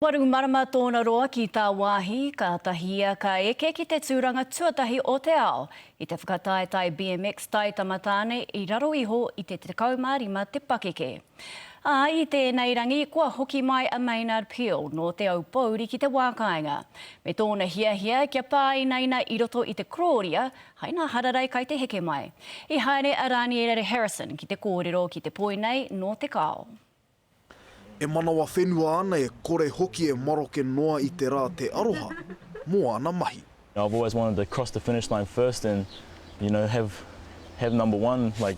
Waru marama tōna roa ki tāwāhi, kātahi ia ka eke ki te tūranga tuatahi o te ao i te whakataetae BMX Taitama Tāne i raro iho i te 15 te pakeke. Ā, i tēnei rangi, kua hoki mai a Maynard Peel nō Te Aupōuri ki te wā kāinga, me tōna hiahia kia pāinaina i roto i te korōria hai nā hararei kai te heke mai. I haere a Rāniere Harrison ki te kōrero ki te poi nei nō Te Kao. E manawa whenua ana e kore hoki e maroke noa i te ra te aroha mo ana mahi. I've always wanted to cross the finish line first and you know have have number one like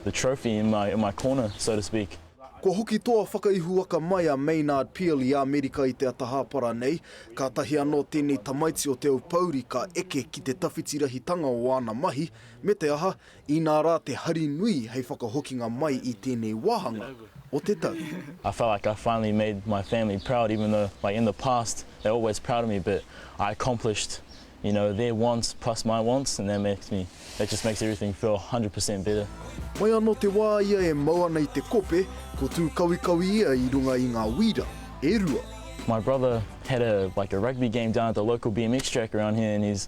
the trophy in my in my corner so to speak. Kua hoki toa whakaihuwaka mai a Maynard Peel i Amerika i te ata hāpara nei, kātahi anō tēnei tamaiti o Te Aupouri ka eke ki te tawhiti rahitanga o āna mahi, me te aha, Inā rā te hari nui hei whakahokinga mai i tēnei wāhanga o te tau. I felt like I finally made my family proud even though like in the past they were always proud of me but I accomplished you know their wants plus my wants and that makes me that just makes everything feel hundred per cent better. Mai anō te wā ia e mau ana i te kope, ko Tūkawikawi ia i runga i ngā wīra e rua. My brother had a like a rugby game down at the local BMX track around here and he's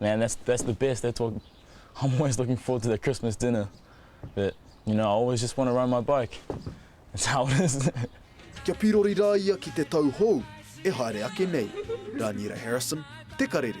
Man that's that's the best that's what I'm always looking forward to the Christmas dinner but you know I always just want to ride my bike that's how it is. Kia pirori ra ia ki te tau hou e haere ake nei. Raniera Harrison, Te Karere.